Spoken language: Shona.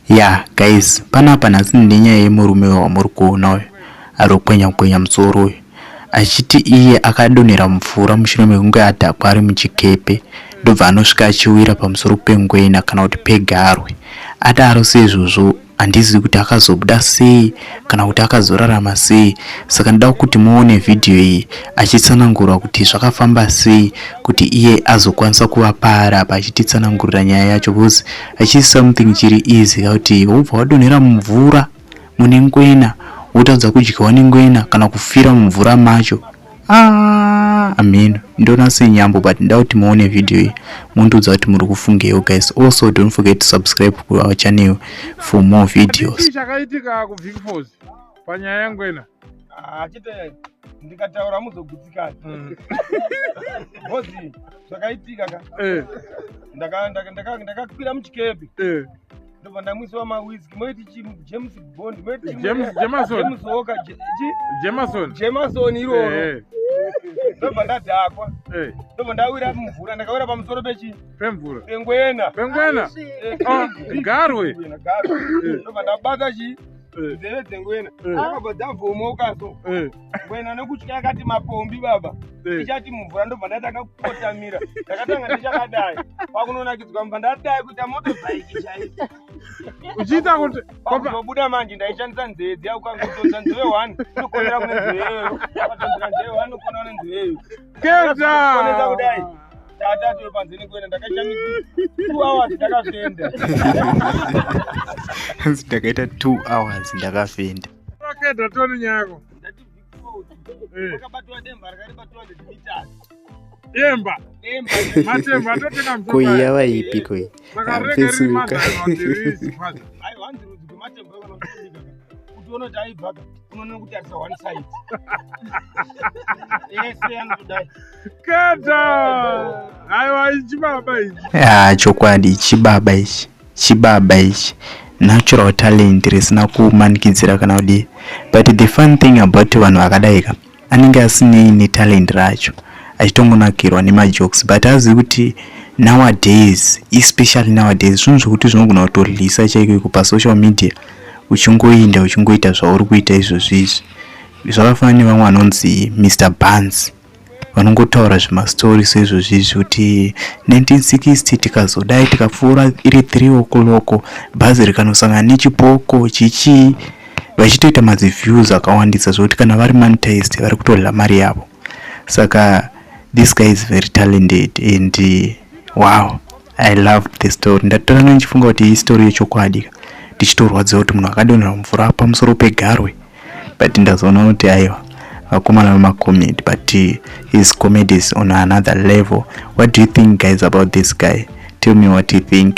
Yeah guys, panapa nhasi nenyaya yemurume wamuri kuona uyu arokwenya kwenya musoro uyu achiti iye akadonhera mvura mushure mekunge adhakwa ari muchikepe ndobva anosvika achiwira pamusoro pengwena kana kuti pegarwe adaro seizvozvo handizivi kuti akazobuda sei kana kuti akazorarama sei saka ndoda kuti muone vhidhiyo iyi achitsanangura kuti zvakafamba sei kuti iye azokwanisa kuva paari apa achititsanangurira nyaya yacho bcause hachisi something chiri easy kuti wobva wadonhera mumvura mune ngwena wotadza kudyiwa nengwena kana kufira mumvura macho ah, ameno ndona senyambo but nda kuti muone video iyi mundiudza kuti muri kufungewo guys also don't forget to subscribe kuchannel for more videos chakaitika kuvicfos panyaya yangwena achite ah, ndikataura muzogutsikana mm. hozi zvakaitika ka eh. ndakakwira muchikepe eh. ndobva ndamwisiwa mawiski moiti chi james bond moitijemasonjemasonjemasoni iroro eh. ndobva ndadhakwa ndobva ndawira mumvura ndakawira pamusoro pechi pemvura pengwena pengwena ah, garwe ndobva ndabata chi Eh. nzeve dzengwena Eh. akabva dzavhomoka so Eh, ngwena nekutya yakati mapombi baba eh. ichati mumvura ndobva ndatanga kukotamira ndakatanga ndichakadai kwakunonakidzwa mva ndadai kuita moto bhaiki chaiko uchiita kuti kwakuzobuda manje ndaishandisa nzeve dziya ukangotonza nzeve one ndokonera kune nzeve iyoyo ukatambira nzeve one ukonera kune nzeve iyoyo hanzi ndakaita 2 hours ndakafenda wakeda toni nyako demba kuiya vaipi koi amfesuka kuti unoti aibvaka unoona kuti arisa one side ese anotodai keta aiwa ichibaba ichi ya chokwadi ichibaba ichi chibaba ichi natural talent risina kumanikidzira kana kudii but the fun thing about vanhu vakadaika anenge asinei netalent racho achitongonakirwa nemajokes but azivi kuti nowadays especially nowadays zvinhu zvekuti zvinogona kutorlisa chaiko iko pasocial media uchingoinda uchingoita zvauri kuita izvozvi izvi zvakafanana nevamwe vanonzi mr bans vanongotaura zvemastori seizvozvi izvi kuti 1960 tikazodai tikapfuura iri 3 okoloko bhazi rikanosangana nechipoko chichii vachitoita madzi views akawandisa zvekuti kana vari monetized vari kutodla mari yavo saka this guy is very talented and uh, wow i love the story ndatora no ndichifunga kuti istory yechokwadi ndichitorwadziwa kuti munhu akadonhera mvura pamusoro pegarwe but ndazoona kuti aiwa vakomana vemacomed but uh, his comedies on another level what do you think guys about this guy tell me what you think